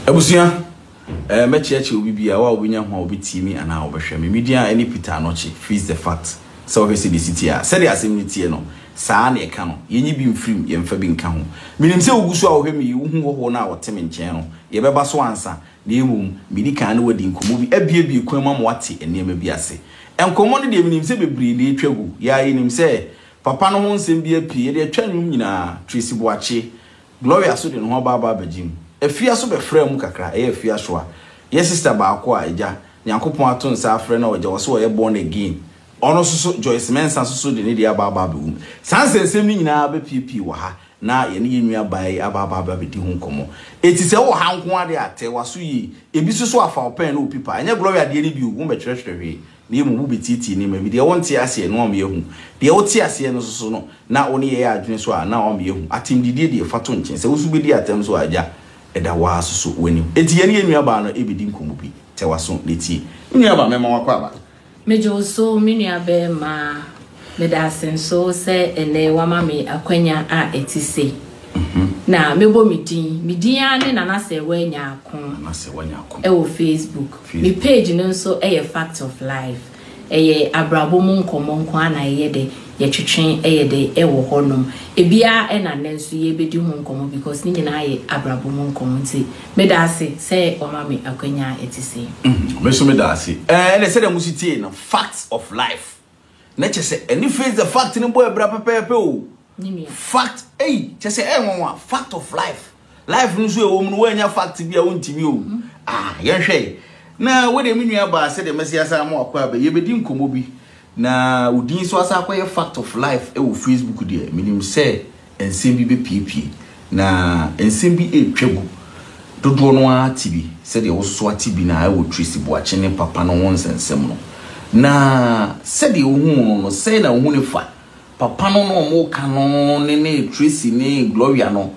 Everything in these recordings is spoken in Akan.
abusua ɛɛ eh, mɛkyerɛkyerɛ obi bi a wa obi nya ho a obi tie mi anaa obi hwɛ mi mi di a ɛne peter anɔkye face the fact sɛ ɔhwɛ sɛ de si tie a sɛdeɛ asɛm ne tie no saa na ɛka no yɛnyi bi mfirim yɛmfa bi nka ho menim sɛ wogu so a wohwɛ me yi wohu hɔhoɔ no a wɔte me nkyɛn no yɛbɛba so ansa na mmom medi kan ne wadi nkɔmmɔ bi abiebie kwan mu ama wate nneɛma bi ase nkɔmmɔ no deɛ menim sɛ bebree na ɛtwa gu yɛa yɛnim sɛ Papa no ho nsɛm bi apue, yɛde atwa nnwom nyinaa, Tracy Boakye, Gloria so de ne ho aba aba abɛgye mu. Afia so bɛfraa mu kakra, ɛyɛ Afia Shoa. Yɛ sister baako a Agya Nyankopɔn ato nsa afrɛ no a ɔgya hɔ sɛ ɔyɛ born again, ɔno nso so, Joyce Mensah nso so de ne deɛ aba aba abɛwom. Saa nsɛnsɛm no nyinaa bɛpuepue wɔ ha na yɛne yɛn nua baa yi aba aba aba abɛdi ho nkɔmmɔ. Eti sɛ wowɔ ha nko ara deɛ a, tɛ w'aso yie. Ebi nso so afa wo pɛn ne wo pipa. Ɛnyɛ Gloria deɛ no bi o, wommɛtwerɛtwerɛ hwee. Na mmom wobetiatia nneɛma bi, deɛ wonte aseɛ, na wɔama yɛahu, deɛ wote aseɛ no nso no, na wo ne yɛyɛ adwene nso a, na wɔama yɛahu. Atɛmdidie deɛ, fa to nkyɛn. Sɛ wo nso wobɛdi atɛm nso a, Agya, ɛda wo ara nso so w'anim. Enti yɛne yɛn nuabaa no rebɛdi nkɔmmɔ bi. Tɛ w'aso na tie. Me nuabaa, mɛma woakɔ aba. Megye wo so, me nuabarimaa. Meda ase nso sɛ ɛnnɛ woama me akwanya a ɛte sei. Na mɛbɔ me din. Me din ara ne Nana Serwaa Nyarko wɔ Facebook. Me page no nso yɛ Fact of Life. Ɛyɛ abrabɔ mu nkɔmmɔ nko ara na ɛyɛ dɛ, yɛtwetwe yɛ dɛ wɔ hɔnom. Ebiara ɛna nnɛ nso yɛrebɛdi ho nkɔmmɔ because ne nyinaa yɛ abrabɔ mu nkɔmmɔ nti meda ase sɛ woama me akwanya a ɛte sei. Me nso meda ase. Ɛnna sɛdeɛ mosi tiee no, Fact of Life. na kyɛ sɛ ɛne face the fact no bɔ abira pɛpɛɛpɛ o fact ei kyɛ sɛ ɛyɛ nwanwa fact of life life no nso ɛwɔ mu no woanya fact bi a wontumi o mhm. ah yɛnhwɛ na wode me nua baa sɛ deɛ mɛsi asa ama wakɔ abɛ yɛbɛdi nkɔmmɔ bi na wodin so asa akɔyɛ fact of life ɛwɔ facebook deɛ menim sɛ nsɛm bi bɛpuepue, na nsɛm bi retwa gu. Dodoɔ no ara te bi sɛdeɛ wosoa te bi no ara wɔ Tracy Boakye ne Papa no ho nsɛnsɛm no. Na sɛdeɛ wohuu no no, sɛn na wohu no fa Papa no na wɔreka no ne ne Tracy ne Gloria no?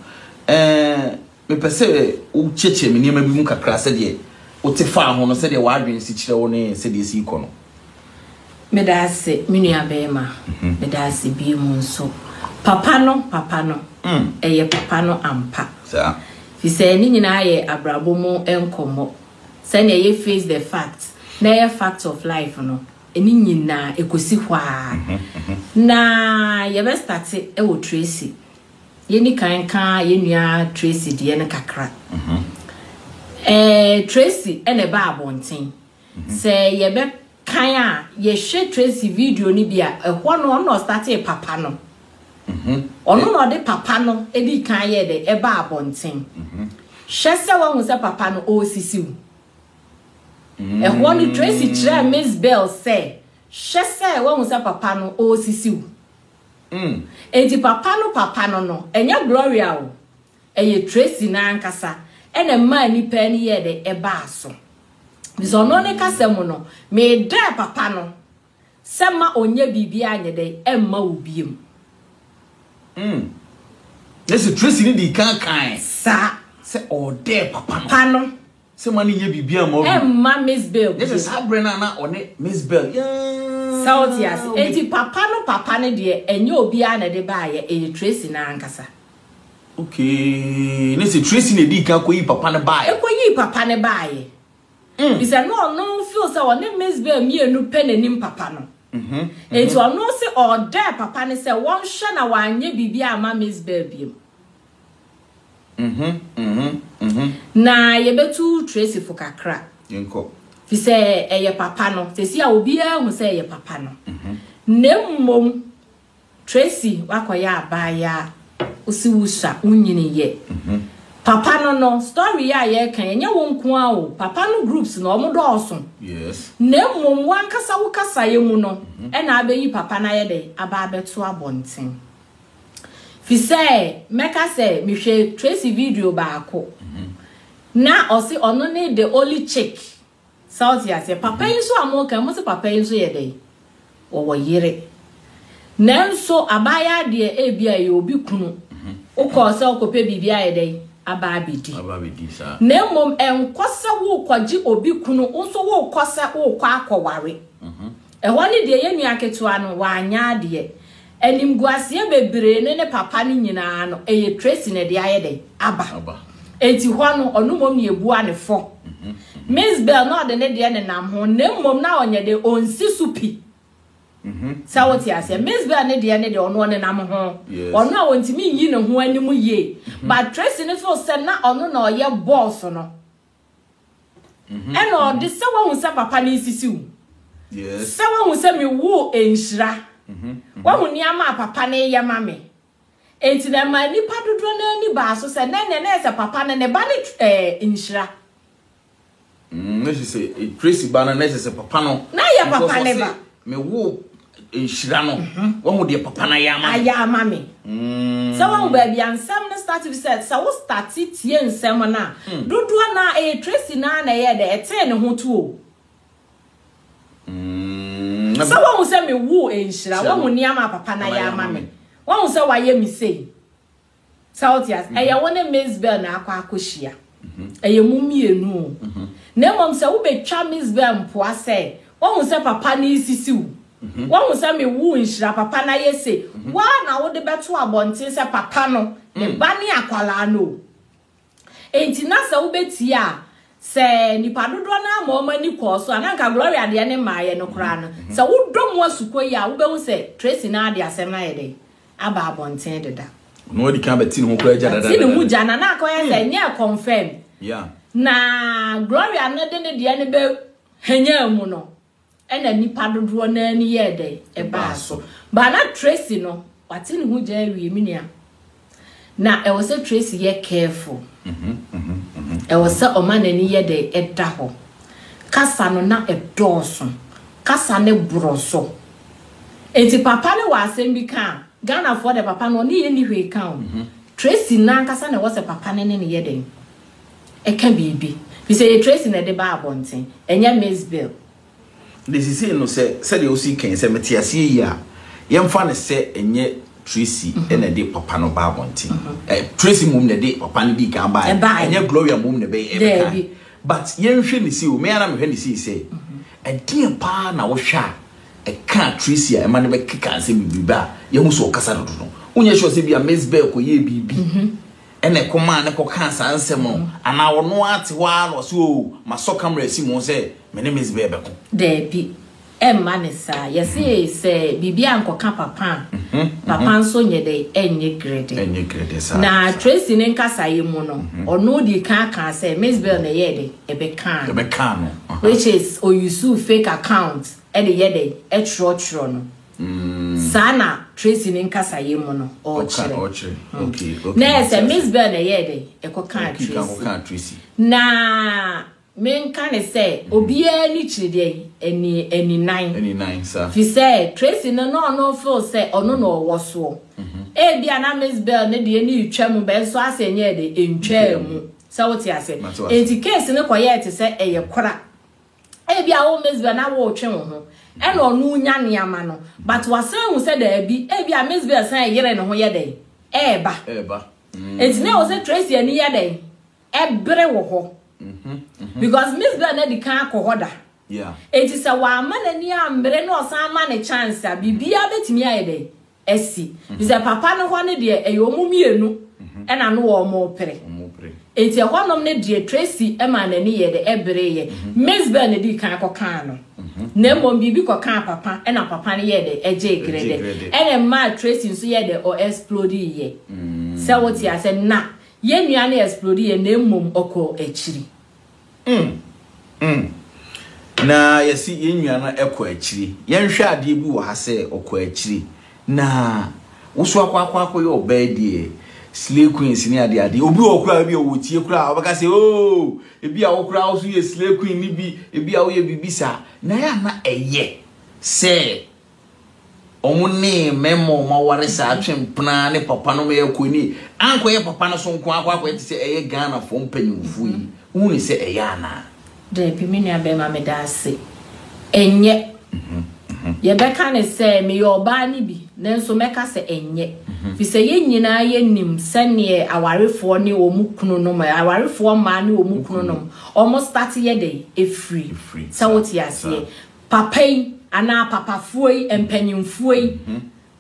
Ɛɛ, Mepɛ sɛ wokyiakyia me nneɛma bi mu kakra, sɛdeɛ wote faa ho no, sɛdeɛ w'adwene si kyerɛ wo ne sɛdeɛ ɛsi rekɔ no. Meda ase, me nuabarima. Meda ase bio mu nso. Papa no, papa no, ɛyɛ papa no ampa. Ɛfiri sɛ ne nyinaa yɛ abrabɔ mu nkɔmmɔ. Sɛdeɛ yɛ face the fact, na ɛyɛ fact of life no, ne nyinaa ɛkɔsi hɔ ara. Na yɛbɛstate wɔ Tracy. Yɛnni kan nka yɛn nua Tracy deɛ no kakra. Ɛɛ Tracy na ɛbaa abɔnten. Sɛ yɛbɛkan a, yɛhwɛ Tracy video no bi a, ɛhɔ no ɔno na ɔstartee papa no. Ɔno na ɔde papa no dii kan yɛɛ dɛ ɛbaa abɔnten. Hwɛ sɛ woahu sɛ papa no ɔresisi wo. Ɛhɔ no Tracy kyerɛɛ Miss Bell sɛ, hwɛ sɛ woahu sɛ papa no ɔresisi wo. mm. Enti papa no papa no no, ɛnyɛ Gloria o, ɛyɛ Tracy no ankasa ɛna ɛmaa nipa ani yɛɛ dɛ ɛbaa so. Bisa ɔno ne kasa mu no, meedɛɛ papa no sɛ ma ɔnyɛ biribi anyɛ dɛ ɛmma wo biem. Mm. Nɛsɛ Tracy ne dii kan kan. Saa. Sɛ ɔɔdɛɛ papa no. Pa no. Sɛ ma no nyɛ biribiara ma ɔbɛn. Ɛmma Miss Bell bio. Nyɛ sɛ saa berɛ no a na ɔne Miss Bell yɛɛ. Sɛ wote ase. Enti papa no papa no deɛ, ɛnyɛ obiara na ɛde baeɛ, ɛyɛ Tracy no ara ankasa. Okay. Ne sɛ Tracy na ɛdii kan kɔyii papa no baeɛ. Ɛkɔyii papa no baeɛ. Ɛfiri sɛ na ɔno feel sɛ ɔne Miss Bell mmienu pɛ na ɛnim papa no. Enti ɔno se ɔdɛɛ papa no sɛ wɔnhwɛ na wanyɛ biribiara amma Miss Bell biom. Mhm, mhm, mhm. Na yɛbɛtu Tracy fo kakra. Yɛnkɔ. Fi sɛ ɛyɛ papa no. Sɛsi a obiara hu sɛ ɛyɛ papa no. Mhm. Na mmom, Tracy wakɔyɛ abaayaa. Wosi wosua, wonyini yɛ. Mhm. Papa no no, story yi a yɛreka yi, ɛnyɛ wo nko ara o. Papa no groups no, wɔn dɔɔso. Yes. Na mmom, wo ankasa wo kasaeɛ mu no, mhm. ɛna abɛyi papa no ayɛ dɛ, aba abɛto abɔnten. Fi sɛ mɛka sɛ mehwɛ Tracy video baako na ɔse ɔno ne the only chick sa wote aseɛ papa yi nso a moka mo se papa yi nso yɛ dɛn wɔwɔ yere nanso abaayɛ adeɛ ebi a yɛ obi kunu wokɔɔ sɛ wokɔpɛ biribi ayɛ dɛn aba abɛdi na mmom ɛnkɔ sɛ wokɔgye obi kunu wo nso wokɔ sɛ wokɔ akɔware ɛhɔ ne deɛ yɛ nua ketewa no wanyɛ adeɛ Animguaseɛ bebree ne ne papa no nyinaa no ɛyɛ Tracy na ɛde ayɛ dɛn aba. Enti hɔ no ɔno mmom na yɛbua no fɔ. Miss Bell na ɔde ne deɛ nenam ho na mmom na ɔnyɛ dɛn ɔnsi so pi. Sɛ wote aseɛ. Miss Bell ne deɛ ne deɛ ɔno ɔnenam ho. Ɔno a ɔntumi nyi ne ho anim yie. But Tracy no so sɛ na ɔno na ɔyɛ boss no. Mhm, Ɛna mhm. ɔde sɛ wahu sɛ papa ne nsisi wo. Yes. Sɛ wahu sɛ me wo nhyira. Mhm, mhm. Wahu nneɛma a papa ne yɛ ma me. Enti na ɛma nnipa dodoɔ no ani baa so sɛ nɛ nɛ nɛ sɛ papa no ne ba ne tw- ɛɛ nhyira. Mm, na kyerɛ sɛ eh, Tracy ba no na kyerɛ sɛ papa no. Na yɛ papa Because ne ɔse, ba. mewoo nhyira no mhm. wahu deɛ papa no ayɛ ama ayɛ ama me mm. sɛ wahu baabi a nsɛm no start bi sɛ sɛ wo start tie nsɛm no a mm. dodoɔ no a ɛyɛ tracy no a na ɛyɛ dɛ ɛtee ne ho tuo mm. sɛ wahu sɛ mewu nhyira wahu nneɛma a papa no ayɛ ama me wahu sɛ wayɛ me sei Sɛ wote ase, ɛyɛ wo ne Misbel na akɔ akɔhyia. Ɛyɛ mo mmienu o. Na mmom sɛ wobɛtwa Misbel mpoa sɛ, Woahu sɛ papa no resisi wo? Woahu sɛ me wo nhyira papa no ayɛ sei? Wo ara na wode bɛto abɔnten sɛ papa no, ne ba ne akwadaa no o. Enti na sɛ wobetie a, sɛ nnipa dodoɔ no ara ma wɔn ani kɔɔ so a, na anka Gloria deɛ ne mmaeɛ no koraa no. Sɛ wodɔ mu asukɔ yi a, wobɛhu sɛ Tracy no ara de asɛm no ayɛ dɛn? Aba abɔnten deda. Ɔno ara di kan bɛte ne ho koraa gya dada. Te ne ho gya, na na akɔyɛ sɛ ɛnyɛ ɛconfirm. Na Gloria no de ne deɛ no bɛhwanyaa mu no, Ɛna nnipa dodoɔ no ara ani yɛɛ dɛn? Ɛbaa so. But na Tracy no, wate ne ho gya awie, me nua. Na ɛwɔ sɛ Tracy yɛ careful. Ɛwɔ sɛ ɔma n'ani yɛ dɛn? Ɛda hɔ. Kasa no na ɛdɔɔso. Kasa no borɔ so. Enti papa no wɔ asɛm bi ka a, Ghanafoɔ deɛ papa no ɔne yɛnni hwee ka o. Tracy no ankasa na ɛwɔ sɛ papa no ne no yɛ dɛn? ɛka biribi. Firi sɛ ɛyɛ Tracy na ɛde baa abɔnten, ɛnyɛ Miss Bill. Na seesei no, sɛ sɛdeɛ wosii kan yi, sɛ mete aseɛ yie a, yɛmfa no sɛ ɛnyɛ Tracy na ɛde papa no baa abɔnten. Ɛ, Tracy mmom na ɛde papa no dii kan baeɛ, Ɛbaeɛ. ɛnyɛ Gloria mmom na ɛbɛyɛ, ɛbɛkae. Daabi. But yɛnhwɛ no sei o, me ara na mehwɛ no sei sɛ, ɛdeɛn pa ara na wohwɛ a ɛkaa Tracy a ɛma no bɛkekaa sɛ biribi a yɛahu sɛ ɔkasa dodo no? Wonyɛ sure sɛ ebia Miss Bill kɔyɛɛ biribi? ɛna ɛkɔmaa no kɔkaa saa nsɛm no, anaa ɔno ara te hɔ ara na ɔse, Oo, masɔ camera asi mo ho sɛ me ne Miss Bɛɛ bɛko? Daabi, ɛmma no saa. Yɛse sɛ biribi ankɔka Papa a, Papa nso nyɛ dɛn? Ɛnyɛ grede. Ɛnyɛ grede saa. Na Tracy ne nkasaeɛ mu no, ɔno dii kan kaa sɛ Miss Bɛɛ na ɛyɛɛ dɛn? Ɛbɛkaa no. Ɛbɛkaa no. Which is, ɔyusuu fake account de yɛ dɛn? Ɛtwerɛtwerɛ no. Saa na Tracy ne nkasayɛ mu no ɔɔkyerɛ. Na ɛyɛ sɛ Miss Bell na ɛyɛɛ dɛn? Ɛkɔ kaa Tracy. Na me nka ne sɛ obiaa ani kyiri dɛn? Ani ani nan. Firi sɛ Tracy no na ɔno feel sɛ ɔno na ɔwɔ soɔ. Ebia na Miss Bell no deɛ no retwa mu bɛn so asɛ ɛnyɛɛ dɛn? Ɛntwaa mu. Sɛ wo te aseɛ? Enti case no kɔyɛɛ te sɛ ɛyɛ kora. ebi a wo Mizbel na wotwe wo ho ɛna ɔno nya nneɛma no but wasan hu sɛ daabi ebi a Mizbel san yere ne ho yɛ dɛn ɛɛba ɛɛba eti na ɛwɔ sɛ Tracy ani yɛ dɛn ɛbere wɔ hɔ because Mizbel na di kan akɔ hɔ da eti sɛ wama n'ani ambere na ɔsan ma ne chance a biribiara betumi ayɛ dɛn asi. Te sɛ papa no hɔ no deɛ ɛyɛ wɔn mmienu ɛna no wɔrepere. Enti ɛhɔnom no deɛ Tracy maa n'ani yɛɛ dɛ ɛbereeɛ. Miss Bell na ɛdii kan kɔkaa no. Na mmom biribi kɔkaa papa ɛna papa no yɛɛ dɛ ɛgyee grɛdɛ. Ɛna ɛmaa Tracy nso yɛɛ dɛ ɔ explodiiɛ. Sɛ wote aseɛ? Na yɛn nua no explodiiɛ na mmom ɔkɔɔ akyiri. Mm, mm. Na yɛsi yɛn nua no ɛkɔ akyiri. Yɛnhwɛ adeɛ bi wɔ ha sɛ ɔkɔ akyiri. Na woso akɔ akɔ akɔ yɛ ɔbaa deɛ slay queens ne adeɛ adeɛ. Obi wɔ koraa bi a wɔtie koraa ɔbɛka sɛ oo oh, ebi a wo koraa wo so yɛ slay queen ne bi ebi a woyɛ biribi saa. Na yɛ ana ɛyɛ sɛ Wɔn ne mmarima wɔn aware saa atwe mpena ne papa no ma yɛkɔ ni ankɔyɛ papa no so nko akɔ akɔyɛ te sɛ ɛyɛ Ghana fo mpanyinfo yi wohu ne sɛ ɛyɛ anaa. Dabi me nua bɛɛma meda ase ɛnyɛ yɛbɛka ne sɛ meyɛ ɔbaa ne bi nanso mɛka sɛ ɛnyɛ fi sɛ yɛ nyinaa yɛ nim sɛneɛ awarefoɔ ne wɔn kunu nom awarefoɔ mmaa ne wɔn kunu nom wɔn start yɛ dɛ ɛfiri sɛ wote aseɛ Papa yi anaa papafoɔ yi, mpanyinfoɔ yi,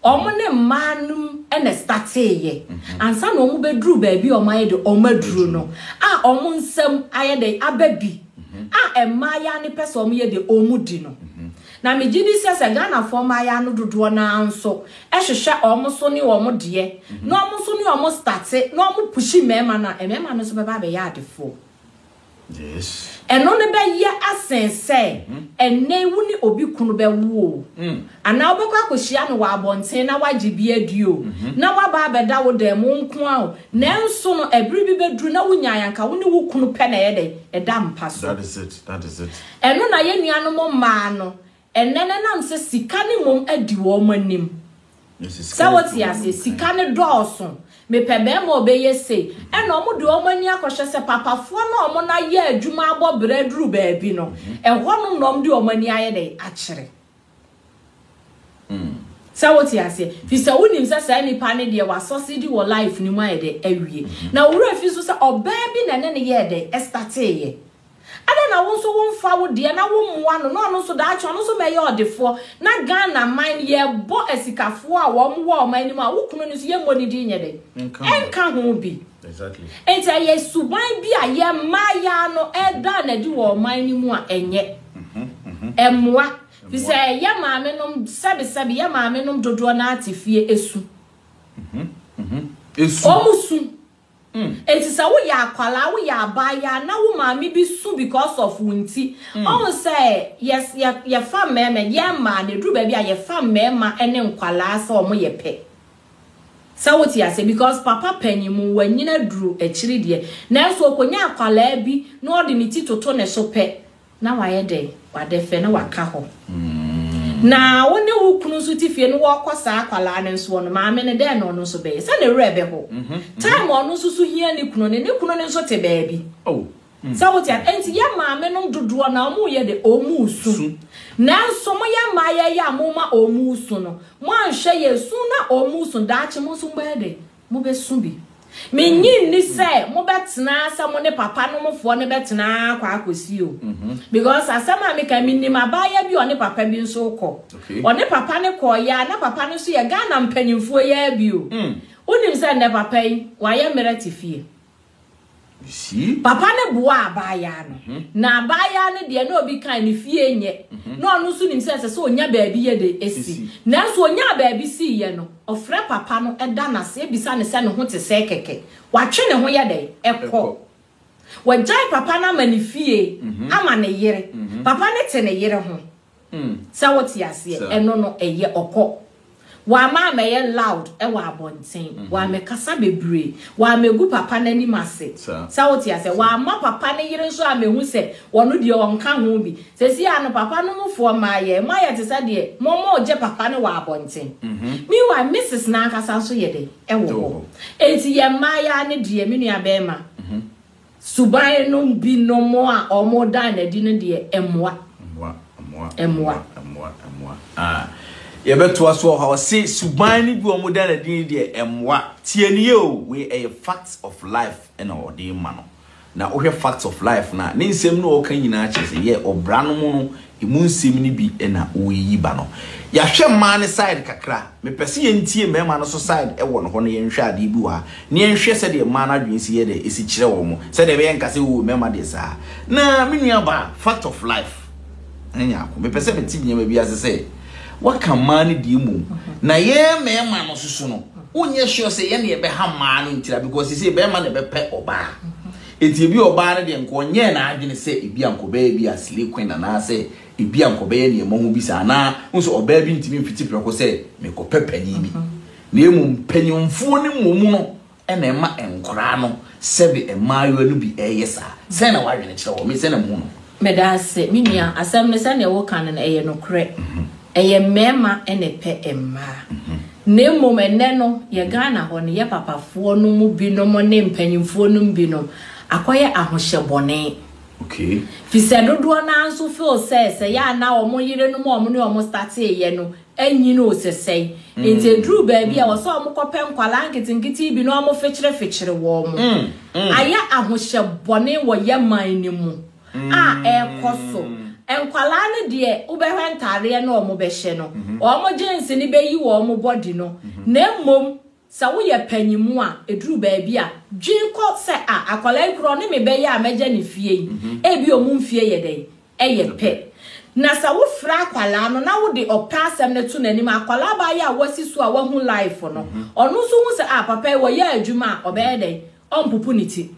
wɔn ne mmaa nom na stateeɛ. Ansa na wɔn bɛduru baabi a wɔn ayɛ de wɔn aduru no, a wɔn nsam ayɛ de aba bi, a mmaayaa no pɛ sɛ wɔn yɛ de wɔn di no. Na megye di sɛ sɛ Ghanafoɔ mmaayaa no dodoɔ no ara nso hwehwɛ wɔn so ne wɔn deɛ, na wɔn nso ne wɔn state, na wɔn pushi mmarima no a, mmarima no nso bɛba abɛyɛ adefoɔ. Ɛno no bɛyɛ asen sɛ ɛnnɛ yi wo ne obi kunu bɛwo o, anaa wobɛkɔ akɔhyia no wɔ abɔnten na woagye bi adi o, na waba abɛda wo dan mu wo nko ara o, nanso no ɛbere bi bɛduru na wonyaa yɛ anka wo ne wo kunu pɛ na ɛyɛ dɛn? Ɛda mpa so. Ɛno na yɛn nuanom mmaa no Ɛnnɛ no ɛnam sɛ sika no mmom adi wɔn anim. Sɛ wote aseɛ, sika no dɔɔso, mepɛ bɛrima a ɔbɛyɛ sei, ɛna wɔde wɔn ani akɔhwɛ sɛ papafoɔ no a wɔn no ayɛ adwuma abɔ berɛ aduru baabi no, ɛhɔnom na wɔde wɔn ani ayɛ dɛn? Akyere. Sɛ wote aseɛ, firi sɛ wonim sɛ saa nipa no deɛ wasɔsedi wɔ life no mu ayɛ dɛn? Awie. Na wo werɛ fi nso sɛ ɔbaa bi na ɛne no yɛɛ dɛn? Ɛstateeɛ. Adɛn na wo nso wo mfa wo deɛ na wo mmoa no na ɔno nso daakye ɔno nso mɛyɛ ɔdefoɔ na Ghana man no yɛbɔ asikafoɔ a wɔn wɔ ɔman no mu a wo kunu no nso yɛ mmɔ ne din nyɛ dɛn nka ho bi nti ɛyɛ suban bi a yɛ mmaa yaa no ɛda na di wɔ ɔman no mu a ɛnyɛ ɛmmoa fi sɛ yɛ maame nom sɛbi sɛbi yɛ maame nom dodoɔ na ate fie esu ɔmo su Enti sɛ woyɛ akwadaa, woyɛ abaayewa na wo maame bi su because of wo nti, ɔhu sɛ yes yɛ yɛfa mmarima, yɛn mmaa no ɛduru baabi a yɛfa mmarima ne nkwadaa sɛ wɔn yɛ pɛ. Sɛ wote aseɛ because papa panyin mu wanyini aduru akyiri deɛ nanso ɔkɔnya akwadaa bi na ɔde ne ti toto ne so pɛ Na wayɛ dɛ? W'adɛ fɛ na w'aka hɔ. Na wo ne wo kunu nso te fie no wɔ kɔ saa akwadaa no nsoɔ no maame no dɛn na ɔno nso bɛyɛ sɛ ne werɛ bɛho time ɔno nso so hia ne kunu ne ne kunu no nso te baabi oh. mm. sɛ wote a nti yɛ maame nom dodoɔ na ɔmo yɛ de ɔmo su nanso mo yɛ mmaa yɛ yɛ a mo ma ɔmo su no mo anhwɛ yɛ su na ɔmo su daakye mo nso mo bɛyɛ de Mobɛsu bi. Mennye nni sɛ mobɛtena sɛ mo ne papa no mofoɔ no bɛtena kɔ akɔsi o. Mhm. Because asɛm a meka menim abaayewa bi ɔne papa bi nso kɔ. Ɔne papa no kɔɔyɛ a na papa no nso yɛ Ghana mpanimfoɔ yɛ bi o. Mm. Wonim sɛ nnɛ papa yi wayɛ mmerɛ te fie. Papa no boaa abaayaa no, na abaayaa no deɛ, na obi kae ne fie nyɛ, na ɔno nso nim sɛ ɛsɛ sɛ ɔnya baabi yɛ dɛ si. Nanso ɔnyaa baabi siiɛ no, ɔfrɛ papa no da no ase bisa no sɛ ne ho te sɛn kɛkɛ. Watwe ne ho yɛ dɛn? Kɔ. Wagyae papa no ama ne fie, ama ne yere. Papa no te ne yere ho. Sɛ wote aseɛ, ɛno no ɛyɛ ɔkɔ. Wamma ammɛyɛ loud wɔ abɔnten, wammɛkasa bebree, wammɛgu papa no anim ase. Sɛ wote aseɛ, wamma papa no yere nso ammɛhu sɛ ɔno deɛ ɔnka ho bi. Seesei ara no, papa no mufoɔ mmaa, yɛn mu ayɛ te sɛ deɛ wɔregye papa no wɔ abɔnten. Meanwhile, Misis no ankasa nso yɛ dɛn? Ɛwɔ hɔ. Enti yɛn mmaa yi ara ne deɛ, me nuabarima, Suban nom bi nom a wɔn da no adi no deɛ ɛmoa. Ɛmoa, ɛmoa, ɛmoa, ɛmoa, ɛmoa. Ah, yɛ bɛ toa so ɔha ɔse suban no bi wɔn da no adi no deɛ ɛmoa. Tie no yɛ o, wei ɛyɛ facts of life ɛna ɔde ma no. Na wohwɛ facts of life no a, ne nsɛm no ɔka nyinaa kyerɛ sɛ yɛ ɔbra nom no Emu nsɛm no bi na woreyiyi ba no. Yɛahwɛ mmaa no side kakra a, mepɛ sɛ yɛntie mmarima no nso side wɔ no hɔ na yɛnhwɛ adeɛ bi wɔ ha, na yɛnhwɛ sɛdeɛ mmaa no adwene si yɛ dɛ, ɛsi kyerɛ wɔn, sɛdeɛ ɛbɛyɛ nka sɛ oo mmarima deɛ saa. Na me nuabaa, fact of life, ɛnyɛ Nyarko, mepɛ sɛ mete nneɛma bi ase sɛ, woaka mmaa no deɛ mmom, na yɛn mmarima no nso so no, wonyɛ sure sɛ yɛn na yɛbɛha mmaa no ntira because seesei barima na ɛbɛpɛ ɔbaa. Enti ebia ɔbaa no deɛ anka ɔnyɛɛ n'adwene sɛ ebia anka ɔbɛyɛ bi a slay queen anaasɛ ebia anka ɔbɛyɛ nea ɛmmɔ ho bi saa. Anaa wohu sɛ ɔbaa bi ntumi mfiti prɛko sɛ merekɔpɛ panin bi. Na mmom mpanimfoɔ no mmom no na ɛma nkwadaa no sɛbe mmaayewa no bi reyɛ saa. Sɛn na w'adwene kyerɛ wɔ? Me sɛn na mehu no. Meda ase, me nua. Asɛm no, sɛdeɛ woka no no, ɛyɛ nokorɛ. Ɛyɛ mmarima na ɛpɛ mmaa. Na mmom ɛnnɛ no, yɛn Ghana hɔ no, yɛn papafoɔ no mu binom ne mpanimfoɔ no mu binom akɔyɛ ahohyɛ bɔne. Ɛfiri sɛ dodoɔ no ara nso feel sɛ, sɛ ɛyɛ a na wɔn yerenom a wɔne wɔn starteeɛ no anyin o sɛsɛe nti ɛduru baabi a ɛwɔ sɛ wɔn kɔpɛ nkwadaa nketenkete bi na wɔn fekyerefekyere wɔn ayɛ ahohyɛ bɔne wɔ yɛ man no mu a ɛrekɔ so nkwadaa no deɛ wobɛhwɛ ntaadeɛ no wɔn bɛhyɛ no wɔn gyens no bɛyi wɔn body no na mmom Sɛ woyɛ panyin a, eduru baabi a, dwen kɔ sɛ, 'A, akwadaa yi koraa, ɔne me bɛyɛ a mɛgya ne fie yi? Ebia wɔn mfeɛ yɛ dɛn? Ɛyɛ pɛ. Na sɛ wofrɛ akwadaa no na wode ɔpɛ asɛm no to n'anim a, akwadaa baa yi a wasi so a wahu life no, ɔno nso hu sɛ, 'A, papa yi, wɔyɛ adwuma a, ɔbɛyɛ dɛn? Ɔrempopo ne ti.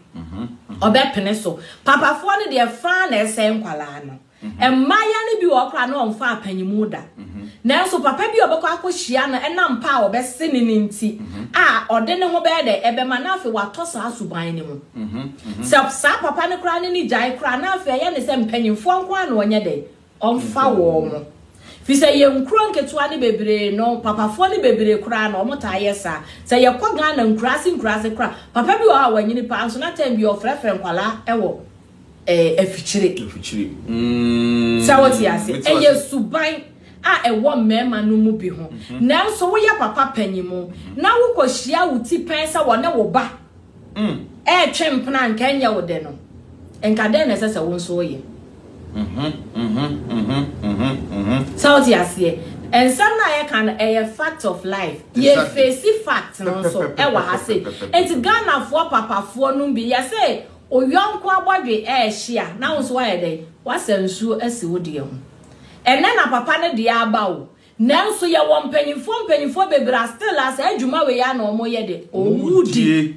Ɔbɛpene so. Papafoɔ no deɛ, fã na ɛsɛe nkwadaa no. Mmayewa no bi wɔ hɔ koraa na wɔmfa apanyimu da. Nanso papa bi a ɔbɛkɔ akɔhyia no nam pɛ a ɔbɛse no no nti a ɔde ne ho bɛyɛ dɛn? Ɛbɛma na afei watɔ saa suban no mu. Sɛ saa papa no koraa ne no gyae koraa na afei ɛyɛ ne sɛ mpanyimfoɔ nko ara na wɔnyɛ dɛn? Wɔmfa wɔn. Ɛfiri sɛ yɛn nkuro nketewa no bebree no, papafoɔ no bebree koraa no, wɔtaa yɛ saa. Sɛ yɛkɔ Ghana nkuraase nkuraase koraa a, papa bi wɔ hɔ a wanyini paa nso na tɛm biara ɔfrɛfrɛ nkwadaa wɔ eh, afikyire. Afikyire. Mm. Sɛ wote ase. Ɛyɛ suban a ɛwɔ mmarima no mu bi ho. Mhm. Nanso woyɛ papa panyin mu mhm. na wokɔhyia wo ti pɛn sɛ wɔne wo ba mm. ɛretwe mpena nka ɛnyɛ wo dɛ no. Nka dɛn na ɛsɛ sɛ wo nso woyɛ. Sɛ wote aseɛ. nsɛm no a yɛka no ɛyɛ fact of life yɛfɛsi fact no nso ɛwɔ ha se nti ghanafoɔ papafoɔ no bi yɛsɛ Wo yɔnko abɔdwe rehye a, na wo nso woayɛ dɛn? Woasa nsuo asi wo deɛ ho. Ɛnnɛ na papa no deɛ aba o. Nanso yɛwɔ mpanimfoɔ mpanimfoɔ bebree a still a saa adwuma wei ara na wɔyɛ de, wɔdi.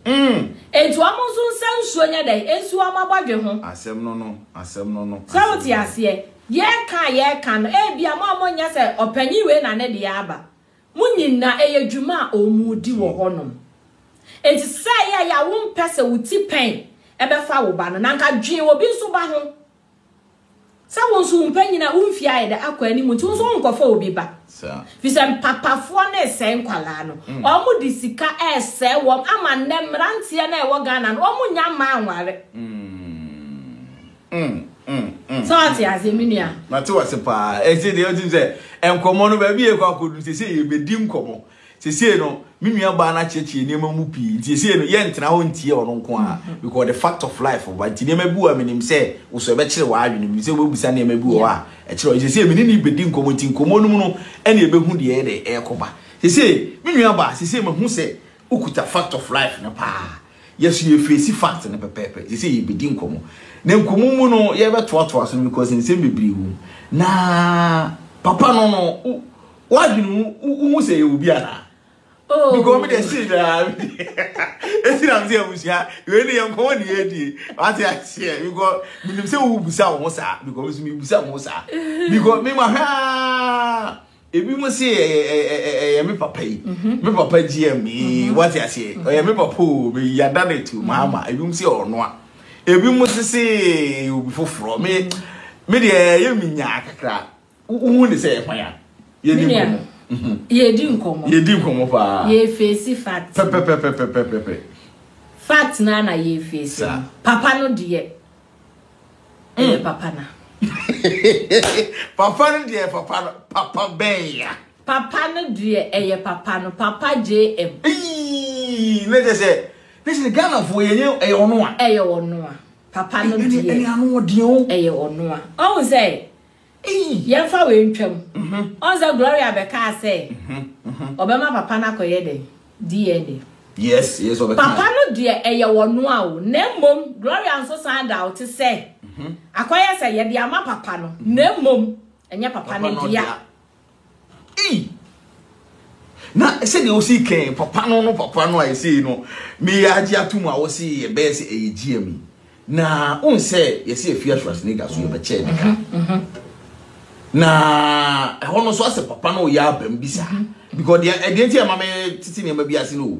Enti wɔn nso nsa nsuo nyɛ dɛn? Ɛnsi wɔn abɔdwe ho. Asɛm no no, asɛm no no. Sɛ wote aseɛ? Yɛreka a yɛreka no, ebia mo a monyɛ sɛ ɔpanin wei na ne deɛ aba. Mo nyinaa, ɛyɛ dwuma a wɔredi wɔ hɔnom. Enti sɛ ɛyɛ a yɛ a wompɛ sɛ wo ti pɛn bɛfa wo ba no, na anka dwen obi nso ba ho. Sɛ wo nso wo mpanyin a wo mfe ayɛ dɛ akɔ anim nti, wo nso wonkɔfa obi ba. Efisɛ mpapafoɔ no resɛe nkwadaa no. Wɔde sika resɛe wɔn ama nnɛ mmeranteɛ no a ɛwɔ Ghana no, wɔnnya mmaa nnware. Mm, mm, mm, sɛ ɔte mm. aseɛ me nua mate wase paa ɛsɛ deɛ wotim sɛ nkɔmmɔ no baabi yɛkɔ akɔdu sɛ sɛ yɛbɛdi nkɔmmɔ sɛsei no me nua baa no akyerɛkyerɛ nneɛma mu pii nti sɛsei no yɛntena hɔ ntie ɔno nko a mm-hmm. because the fact of life ba nti nneɛma bi wɔ a menim sɛ wo so ɛbɛkyerɛ w'adwene mu sɛ wobɛbusa nneɛma bi wɔ hɔ a ɛkyerɛ ɔ sɛsei mene ne bɛdi nkɔmmɔ nti nkɔmmɔ no mu no ɛne ɛbɛhu deɛ ɛde ɛrekɔba sɛsei me nua baa sɛsei mahu sɛ wokuta fact of life no paa Yɛso yɛfeesi fact no pɛpɛɛpɛ, seisei yɛbɛdi nkɔmmɔ. Na nkɔmmɔ mu no yɛbɛtoatoa so no because nsɛm bebree wɔ mu. Na papa no no, w'adwene mu wohu sɛ yɛwɔ bi anaa? Oh. Because me de see da. Esi na mse abusua. We ne yɛn kɔn ne yɛdie. Wate aseɛ because menim sɛ wo busa wo ho saa because me busa wo ho saa because me ma hwɛ Ebi mo se ɛyɛ me papa yi, me papa GM yi, wate aseɛ, ɔyɛ me papa o, me yada ne to maama, ebi mo se ɔnoa, ebi mo se se obi foforɔ, me me deɛ ɛyɛ me nyaa kakra, wohu ne sɛ ɛkwan a, yɛdi nkɔmɔ. Yɛdi nkɔmɔ. Yɛdi nkɔmɔ paa. Yɛfeesi fact. Pɛpɛpɛpɛpɛpɛpɛ. Fact naa na yɛfeesi. Papa no deɛ. ɛyɛ mm. papa na papa no deɛ papa no papa bɛn ya papa no deɛ ɛyɛ papa no papa jm ne kyɛ sɛ ne sɛ ghanafoɔ yɛnyɛ ɛyɛ ɔno a ɛyɛ ɔno a papa no deɛ ɛyɛ ɔno a ɔhu sɛ Yɛmfa wei ntwam. Ɔn sɛ Gloria bɛkaa sɛ ɔbɛma papa no akɔyɛ dɛn? DNA. Yes, yes, ɔbɛkaa. Papa no deɛ ɛyɛ wɔnoa o, na mmom Gloria nso san daote sɛ akɔyɛ sɛ yɛde ama papa no, na mmom ɛnyɛ papa no dea. Ei! Na sɛdeɛ wosi kɛn papa no no papa no a ɛsei no meyɛ agye atom a wose yɛbɛyɛ sɛ ɛyɛ GM yi. Na wohu sɛ yɛsɛ yɛfi Schwarzenegger so yɛbɛkyɛɛ ne ka. Mhm, mhm. Na ɛhɔ no so asɛ papa no yɛ abam bi saa. Mhm, because deɛ ɛdeɛ nti a ɛma me tete nneɛma bi ase no o.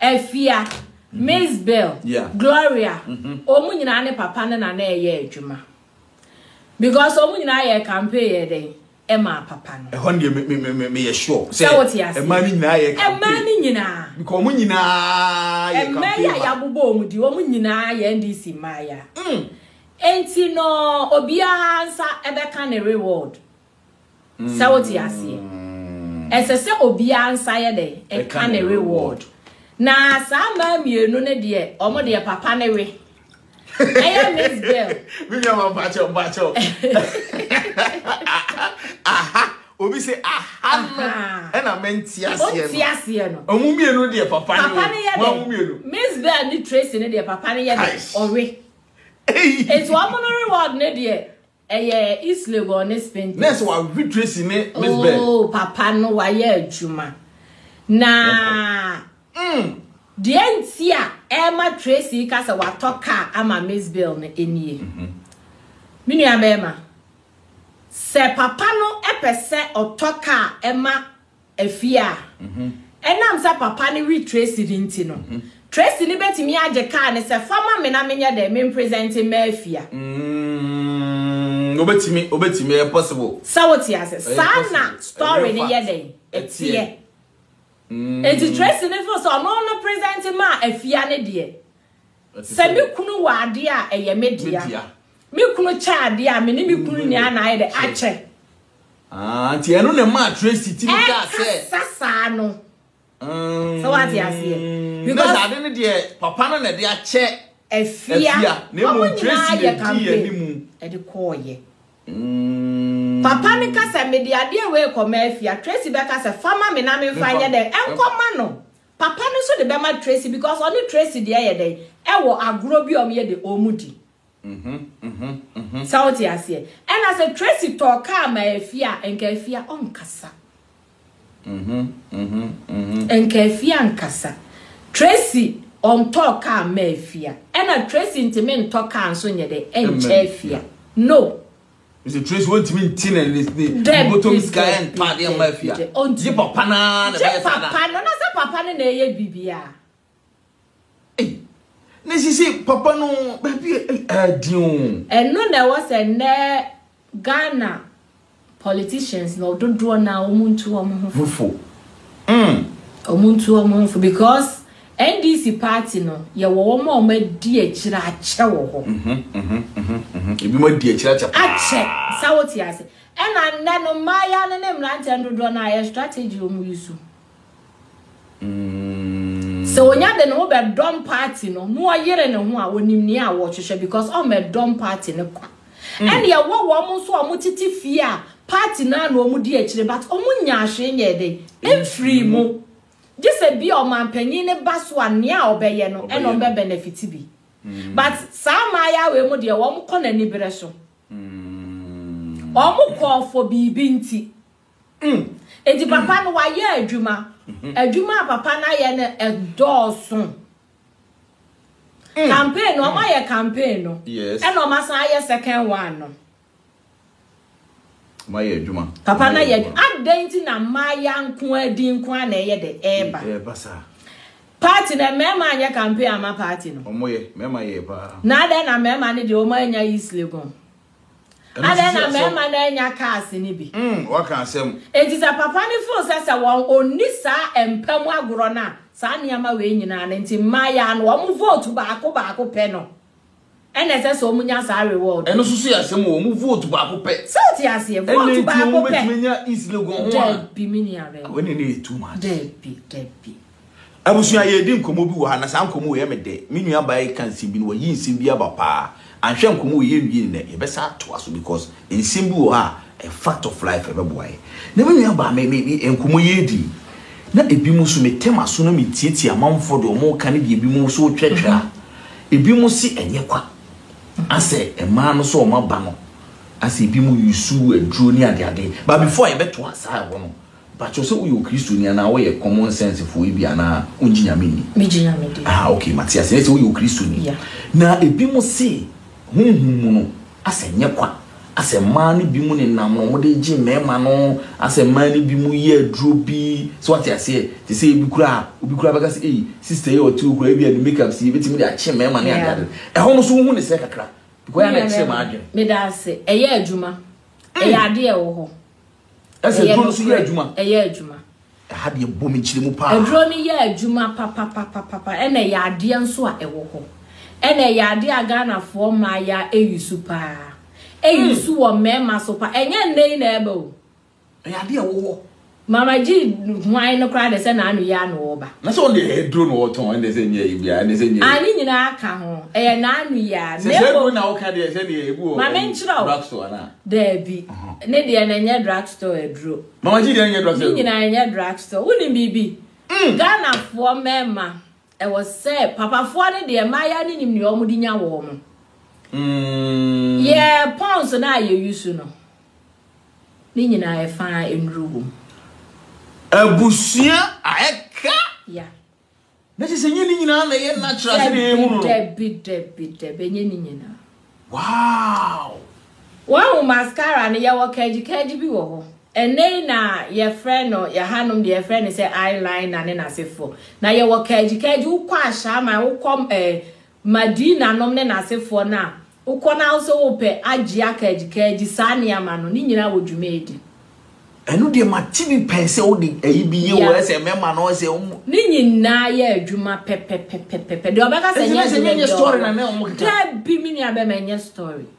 Afia, Mizbel, Gloria, wɔn nyinaa ne papa no na na ɛyɛ adwuma. Because wɔn nyinaa yɛ campaign yɛ dɛn ɛmaa papa no. Ɛhɔ deɛ me me me me yɛ sure. Sɛ wote ase. Ɛmaa ne nyinaa yɛ campaign. Ɛmaa ne nyinaa. Because wɔn nyinaa yɛ campaign. Ɛmaa yɛ a yabobɔ wɔn di wɔn nyinaa yɛ NDC mmaaya. Enti no obiara nsa ɛbɛka ne reward. Sɛ wote aseɛ? Ɛsɛ sɛ obiara nsa yɛ dɛn? Ɛka ne reward. Na saa mmaa mmienu no deɛ, wɔn deɛ papa ne we. Ɛyɛ Miss Girl. Me nua ma mpakyɛw mpakyɛw. Aha. Obi se aha no. Ɛna me nti aseɛ no. Ɔnti aseɛ no. Ɔmo mmienu deɛ papa ne we. Papa ne yɛ dɛn? Miss Bell ne Tracy ne deɛ papa ne yɛ dɛn? Ɔwe. Eti ɔmo no reward ne deɛ. Ɛyɛ East Legon ne Spintex. Nurse wa hwehwɛ Tracy ne Miss Bell. Oh papa no wa yɛ adwuma. Na mm. deɛ nti a ɛma Tracy ka sɛ watɔ car ama Miss Bell no enie. Mm -hmm. Me nua bɛrima. Sɛ papa no ɛpɛ sɛ ɔtɔ car ɛma afie a, ɛnam sɛ papa no we Tracy no nti no, Tracy no betumi agye kaa no sɛ, Fa ma me na menyɛ dɛn? Mempresɛnte mma afie a? Mm, obetumi, obetumi, ɛyɛ possible. Sɛ wote ase, saa na story no yɛ dɛn? Ɛteɛ. Mm. Enti Tracy no feel sɛ ɔno no presɛnte maa afia no deɛ. Sɛ me kunu wɔ adeɛ a ɛyɛ me dea. Me kunu kyɛ adeɛ a me ne me kunu nyinaa na ayɛ dɛ akyɛ. Ah, nti ɛno na ɛmaa Tracy ti mi kaa sɛ. Ɛkasa saa no. Mm. Sɛ wate aseɛ. Because na ade no deɛ papa no na ɛde akyɛ. Afia. Afia. Na emu Tracy na di yɛ ne mu. Ɛde kɔɔyɛ. Mm. Papa no ka sɛ mede adeɛ wei kɔma afia Tracy bɛka sɛ fama me na memfa nyɛ dɛn ɛnkɔma no papa no nso de bɛma Tracy because ɔne Tracy deɛ yɛ dɛn ɛwɔ agorɔ bi a wɔyɛ de wɔn di Sɛ wote aseɛ? Ɛna sɛ Tracy tɔɔ kaa ma Afie a, nka Afie a ɔnkasa. Nka Afie a nkasa. Tracy ɔntɔɔ kaa mma Afie a. Ɛna Tracy ntumi ntɔ kaa nso nyɛ dɛ nkyɛ Afie a. No. Mr. Tracy wontumi nti ne ne bottom sika ntɔ adeɛ mma Afie a. Gye papa no ara na ɛbɛyɛ saa. Gye papa no, na sɛ papa no na ɛyɛ biribiara. Ei, na sisi papa no baabi ɛdi o. Ɛno na ɛwɔ sɛ nnɛ Ghana politicians no dodoɔ no a wɔn ntu wɔn ho fo. Fo. Mm. Wɔn ntu wɔn ho fo because NDC party no yɛwɔ wɔn a wɔn adi akyire akyɛ wɔ hɔ. Ebi mo adi akyire akyɛ paa. Akyɛ sa wote ase. Ɛna nnɛ no mmayewa no ne mmeranteɛ no dodoɔ no a yɛ strategy wɔn yi so. Sɛ onya de ne ho bɛdɔm party no na ɔyere ne ho a, onim nea wɔhwehwɛ because ɔmmɛdɔm party no kwa. Ɛna ɛwɔ wɔn nso a wɔtete fie a party no ara na wɔdi akyire but wɔnyaa hwee nyɛɛ dɛn? Mfirii mu. Gye sɛ bi a ɔmanpanyin no ba so a nea a ɔbɛyɛ no ɛna wɔbɛbenefit bi. But saa mmaayaa wei mu deɛ wɔkɔ no aniberɛ so. Wɔkɔ for biribi nti. Mm. Enti papa no wayɛ adwuma. Mm-hmm. Adwuma a papa no ayɛ no ɛdɔɔso. Mm. Campaign no, ɔma mm. yɛ campaign no. Yes. Ɛna ɔma san ayɛ second one no. Ɔma yɛ adwuma. Papa no yɛ adwuma. Adɛn nti na mmaaya nko adi nko a na ɛyɛ de ɛɛba. Ɛɛba saa. Party na mmarima anyɛ campaign ama party no. Ɔmo yɛ, mmarima yɛ paa. Na adɛn na mmarima no deɛ ɔmo anya East Legon. Adɛn na mmarima no annya kaase no bi? Mm, waka asɛm. Enti sɛ papa no feel sɛ sɛ wɔn onni saa mpa mu agorɔ no a, saa nneɛma wei nyinaa no nti mmaayaa no wɔn vote baako baako pɛ no ɛna ɛsɛ sɛ wɔn nya saa reward. Ɛno nso so yɛ asɛm o, wɔn vote baako pɛ. Sɛ o ti aseɛ, vote baako pɛ. Ɛna nti wɔn bɛtumi nya East Legon ho a. Dɛbi mi ni abɛn. Awɛ ne ne yɛ too much. Dɛbi, dɛbi. Abusua, yɛredi nkɔmmɔ bi wɔ ha, na saa nkɔmmɔ wei yɛ me dɛ. Me nua baa yi ka nsɛm bi na wayi nsɛm bi aba paa. Anhwɛ a nkɔmmɔ wei yɛnwie no nnɛ, yɛbɛsan atoa so because nsɛm bi wɔ ha a, a fact of life, ɛbɛboa yɛn. Na me nua baa, me, me, me, nkɔmmɔ yi yɛredi yi, na ebinom nso metɛ m'aso na metietie amanfoɔ deɛ wɔreka ne deɛ ebinom nso retwerɛtwerɛ a, ebinom se ɛnyɛ kwa, asɛ mmaa no sɛ wɔn aba no, asɛ ebinom use aduro ne adeade. But before a yɛbɛtoa saa a ɛwɔ no, Pakyɛw sɛ woyɛ okristoni anaa woyɛ common sense foɔ yi bi anaa wongye nyame nni. Me gye nyame di. Aha ok mate aseɛ ɛyɛ sɛ woyɛ okristoni na ebi mo se honhom mu no asɛ nyɛ kwa asɛ mmaa no bi mo ne nam na wɔn de gye mmarima no asɛ mmaa no bi mo yɛ aduro bi so wate aseɛ te sɛ ebi kura obi kura bɛka sɛ ei sister yi ɔte hɔ kura ebi a ne make up si ebetumi de akye mmarima ne ade ade ɛhɔ no so wohu ne sɛ kakra because ɛyɛ na ɛkyerɛ m'adwene. Meda ase ɛyɛ adwuma ɛyɛ adeɛ ɛwɔ hɔ. Ɛsɛ duro no so yɛ adwuma. Ɛyɛ adwuma. Ɛha deɛ bɔ me kyerɛ mu paa. Aduro no yɛ adwuma papapapapa ɛna ɛyɛ adeɛ nso a ɛwɔ hɔ. Ɛna ɛyɛ adeɛ a Ghanafoɔ mmaa ya eyi so paa. Eyi so wɔ mmarima so paa. Ɛnyɛ nnɛ yi na ɛba o. Ɛyɛ adeɛ a ɛwɔ hɔ. Mama gyi hwan no koraa de sɛ n'ano yɛ ano ɔba. Na sɛ ɔde ɛyɛ duro na ɔtɔn ɛna sɛ nyɛ ebi a ɛna sɛ nyɛ. A ne nyinaa ka ho. Ɛyɛ n'ano yɛ a. Sɛ sɛ duro na ɔka deɛ sɛ deɛ ebi wɔ. Mama nkyerɛ o. Black so anaa. Daabi. Ne deɛ no ɛnyɛ drugstore aduro. Mama G deɛ ɛnyɛ drugstore aduro. Ne nyinaa ɛnyɛ drugstore. Wonim biribi? Mm. Ghanafoɔ mmarima ɛwɔ sɛ papafoɔ no deɛ mmaayewa no nim deɛ wɔn de nya wɔn. Mm. Yɛ pons no a yɛ yusu no. Ne nyinaa ɛfa nnuro wom. Abusua a ɛka. Yeah. Na kyerɛ sɛ ɛnyɛ ne nyinaa na ɛyɛ natural sɛ deɛ yɛhu no no. Dabi, dabi, dabi, ɛnyɛ ne nyinaa. Wow! Wahu mascara no, yɛwɔ kagyikagy bi wɔ hɔ. Ɛnnɛ yi na yɛfrɛ no, yɛhanom deɛ yɛfrɛ no sɛ eyeliner ne n'asefoɔ. Na yɛwɔ kagyikagy, wokɔ Ashaiman, wokɔ eh, Madina nom ne n'asefoɔ no a wokɔ na wose wopɛ agye akaadjikaadji saa nneɛma no, ne nyinaa wɔ dwumaadi. Ɛno deɛ mate bi pɛn sɛ wode ayi bi yɛ o, ɛsɛ mɛma no ɔsɛ ɔmo. Ne nyinaa yɛ adwuma pɛpɛpɛpɛpɛpɛ. Deɛ ɔbɛka sɛ ɛnyɛ adwuma biara ɔwɔ. Daabi me nua bɛma ɛnyɛ story.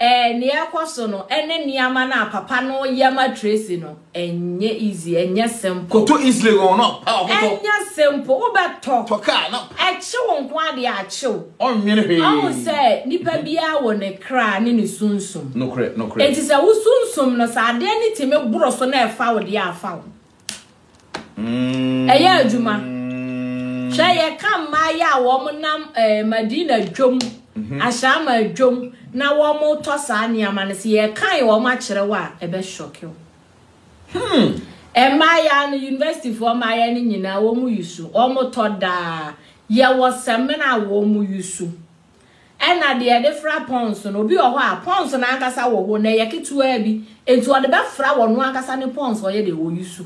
Ɛɛ nea ɛrekɔ so no ɛne nneɛma no a papa no reyɛ ma Tracy no ɛnyɛ easy, ɛnyɛ simple. Kɔtɔ Eastleigh wɔn no pa ɔkɔtɔ. Ɛnyɛ simple, wobɛtɔ. Tɔ car no pa. Ɛkye wo nko ara deɛ akye wo. Ɔnnwene hwee. Ɔhu sɛ nipa biara wɔ ne kra ne ne sunsum. Nokorɛ, nokorɛ. Enti sɛ wo sunsum no sɛ adeɛ no tumi boro so na ɛfa wo deɛ a afa wo. ɛyɛ adwuma hwɛ yɛka mmaayɛ a wɔn nam ɛɛ eh, madina dwom mhm. ahyɛama dwom na wɔn tɔ saa nneɛma no sɛ yɛkan wɔn akyerɛ wɔ a ɛbɛ shɔke o hmm. mmaayɛ no university foɔ mmaayɛ no nyinaa wɔn yi so wɔn tɔ daa yɛwɔ sɛmina a wɔn yi so. Ɛna deɛ yɛde fra pɔns no, obi wɔ hɔ a, pɔns no ankasa wɔ hɔ, na ɛyɛ ketewaa bi, enti ɔde bɛfra wɔ no ankasa ne pɔns, ɔyɛ dɛ ɔyi so.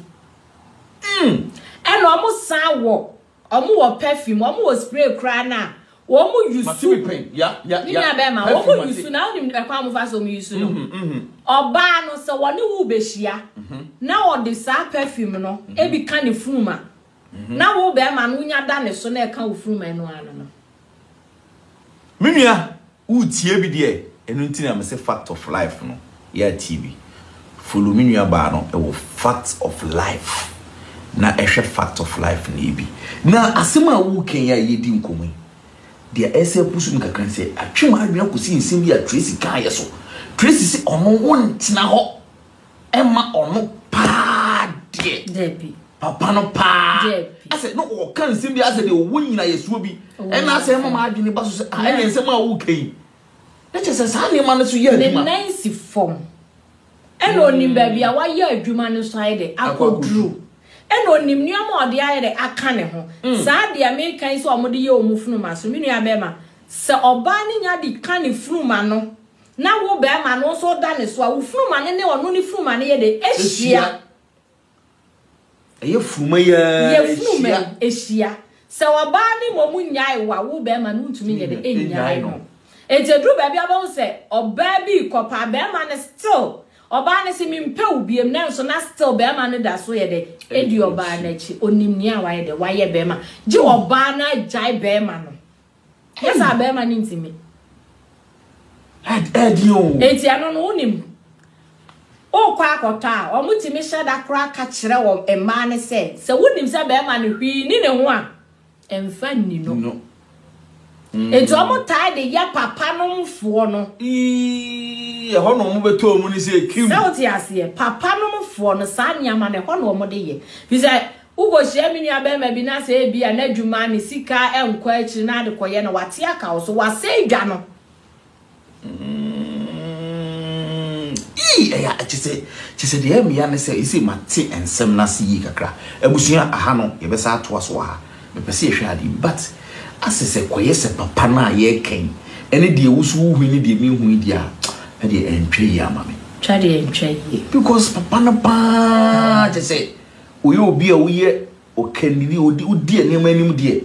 Mm. Ɛna ɔmo san wɔ, ɔmo wɔ pɛfim, ɔmo wɔ spray koraa no a, ɔmo yi Mate so. me pɛn, ya, ya, Ne ya. nua bɛɛma, Pɛfim ɔmo yi mate. so, na wonim ɛkwan a ɔmo fa so ɔmo yi so no? Mhm, mhm, Ɔbaa no, sɛ ɔne wo rebehyia, mhm, na ɔde saa pɛfim no ebi ka ne funum a, mhm. na wo bɛɛma no wonya da ne so na ɛka wo funum a, ɛno ara no no. Me nua wo tie bi deɛ ɛno nti na mese fact of life no yɛ tie bi follow me nua baa no ɛwɔ fact of life na ɛhwɛ fact of life no yɛ bi na asɛm a wo kɛn a yɛdi nkɔmɔ yi deɛ ɛsɛ pusu mu kakra sɛ atwe ma adwene kɔsi nsɛm bi a Tracy kaa yɛ so Tracy sɛ ɔno wo ntena hɔ ɛma ɔno paa deɛ Dabi. papa no paa Dabi. asɛ na ɔka nsɛm bi asɛ deɛ ɔwɔ nyina yɛsoɔ bi Ɔwɔ ɛna asɛ ɛma nyinasɛm. ma adwene ba so sɛ ah, ɛne nsɛm a woka yi na kyerɛ sɛ saa nneɛma no so yɛ ne adwuma nan si fam ɛna onim baabi a wayɛ adwuma no nso ayɛ dɛ akɔduru akɔduru. ɛna onim nneɛma a ɔde ayɛ dɛ aka ne ho Mm. saa deɛ meka yi sɛ wɔde yɛ wɔn funuma so me nua bɛrima sɛ ɔbaa no nya de ka ne funuma no na wo barima no nso da ne so a, wo funumane ne ɔno ne funumane yɛ dɛn? Ahyia. Ɛyɛ funuma yi ara hyia. Yɛ funuma yi ahyia. Sɛ ɔbaa ne mmom nnyae wo a, wo barima no wontumi nyɛ dɛn? Nnyae no. Enti ɛduru baabi a bɛhu sɛ ɔbaa bi rekɔpa a, barima no still, ɔbaa no se mempɛ wo biom nanso na still barima no da so yɛ dɛn? Ɛdi ɔbaa no akyi. Ɔnim nea wayɛ dɛn? Wayɛ barima. Gye ɔbaa no agyae barima no. Nyɛ saa bɛrima no ntumi. Ɛdi o. Eti ɛno no wonim. Wokɔ akɔtɔ a, wɔn tumi hyɛ da koraa ka kyerɛ wɔn mmaa no sɛ, sɛ wonim sɛ bɛrima no hwii ni ne ho a, mfa nni no. No. Eti wɔn mm. taa de yɛ papa nomfoɔ no. Ii, ɛhɔ na wɔn bɛtɔ wɔn ni sɛ kim. Sɛ wote aseɛ, papa nomfoɔ no saa nneɛma no ɛhɔ na wɔn de yɛ. Fi sɛ Wukohyia me nuabarima bi na sɛ ebia n'adwuma, ne sika nkɔ akyiri na ade kɔyɛ no, wate aka wo so, wasɛe dwa no. Kyɛ sɛ deɛ mmea ne sɛ ɛsɛ mate nsɛm no ase yie kakra. Abusua aha no yɛbɛsa atoa so wɔ ha. Mepɛ sɛ yɛhwɛ adeɛ bi but asɛ sɛ kɔyɛ sɛ papa no a yɛreka yi ɛne deɛ wo so wohui ne deɛ menhui deɛ a ɛdeɛ ɛntwa yie ama me. Twa deɛ ɛntwa yie. Because papa no paa kyɛ sɛ Woyɛ obi a woyɛ ɔkannini, wode wodi nneɛma anim deɛ,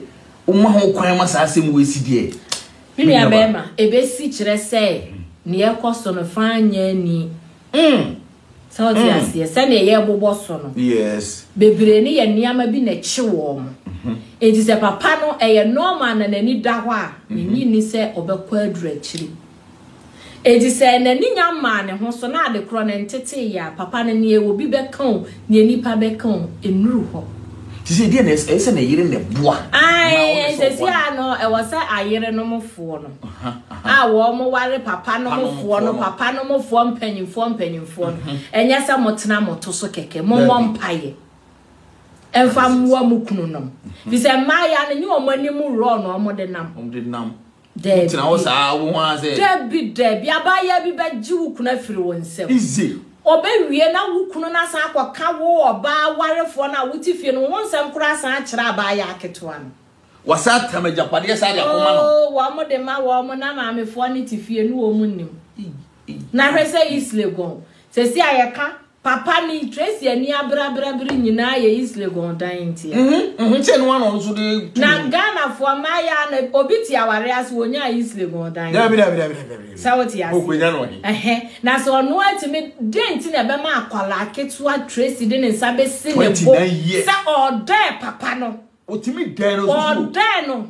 woma ho kwan ma saa asɛm wei si deɛ, Me me nuaba. nuabarima, ebesi kyerɛ sɛ nea ɛkɔ so no fã nyɛ ani. Mm. Sɛ wote aseɛ, sɛdeɛ yɛbobɔ so no, Yes. bebree no yɛ nneɛma bi na ɛkye wɔn. Enti sɛ papa no, ɛyɛ normal na n'ani da hɔ a, minnye nni sɛ ɔbɛkɔ aduru akyiri. Enti sɛ n'ani nya mmaa ne ho so na ade korɔ no ntetee yɛ a, papa no neɛ obi bɛka o, neɛ nipa bɛka o, ennuru hɔ. Te sɛ deɛ na ɛyɛ sɛ ne yere na ɛboa. Ae, sɛsi ara no ɛwɔ sɛ ayere nom foɔ no a wɔn ware papa nom foɔ no, papa nom foɔ mpanyinfoɔ mpanyinfoɔ no, ɛnyɛ sɛ mo tena mo to so kɛkɛ, mo mmɔ mpaeɛ mfa mmoa mo kunu nom, firi sɛ mmaayea no nyɛ wɔn anim rɔɔ na wɔn de nam. Dabi. Tena hɔ saa wo ho ara sɛ. Dabi dabi abaayewa bi bɛgye wo kunu afiri wo nsam. Ize. Ɔbɛwie na wo kunu no asan akɔka wo ɔbaa warefoɔ no a wote fie no ho nsɛm koraa asan akyerɛ abaayewa ketewa no. Wasan atam agyapadeɛ saa de akɔma no. Oo wɔn de ma wɔn na maamefoɔ no te fie ne wɔn nnim. Na hwɛ sɛ Islegon sɛsi a yɛka Papa ni Tracy ani abrabra bere nyinaa yɛ Islegon dan ntia. Mhm, mhm, sɛ no ano nso de tu. Na Ghana fo ma ya na obi ti aware ase wonya Islegon dan. Da bi da bi da bi da bi. Sa wo ti ase. Okwenya no ɔde. Ehhe, na sɛ ɔno atumi den nti na ɛbɛma akwala ketewa Tracy de ne nsa bɛsi ne bo. Sɛ ɔdɔ papa no. Otumi dɛn no so. Ɔdɔ no.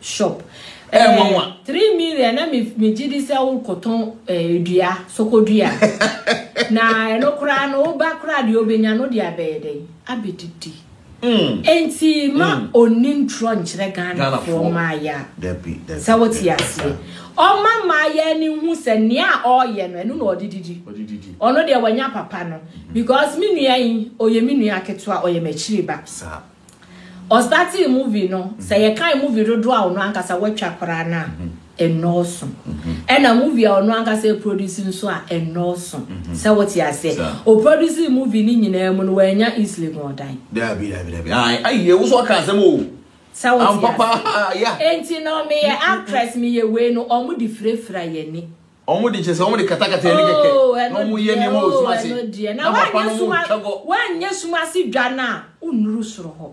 shop ɛɛ nwanwa three million na mi mi gye di sɛ wokɔtɔn ɛɛ dua sokodua na ɛno koraa no woba koraa deɛ obenya no deɛ abɛyɛ dɛ abɛdidi enti ma onni ntorɔ nkyerɛ ghanafoɔ maaya sɛ wote aseɛ ɔma maaya ani hu sɛ nea ɔyɛ no ɛno na ɔde didi ɔno deɛ wanya papa no because me nua yi ɔyɛ me nua ketewa ɔyɛ m'akyiri ba. Ɔstartee movie no, sɛ yɛkan movie dodoɔ a ɔno ankasa watwa koraa no a, ɛnnɔɔso. Ɛna movie a ɔno ankasa ɛproduce nso a, ɛnnɔɔso. Sɛ wote aseɛ? Ɔproducee movie no nyinaa mu no, wannya East Legon dan. Daabi, daabi, daabi. Ae, aii, wo so ɔka asɛm oo. Sɛ wote aseɛ? Ampa paa, yeah. Enti no, meyɛ actress, meyɛ wei no, wɔn de firafira yɛn ani. wɔn de kyerɛ sɛ wɔn de katakata ɛni kɛkɛ oh, na wɔn yɛ nneɛma wɔ sum ase na papa no wɔn twɛ gɔ. wɔanyɛ sum ase dwa no a wonnuru soro hɔ.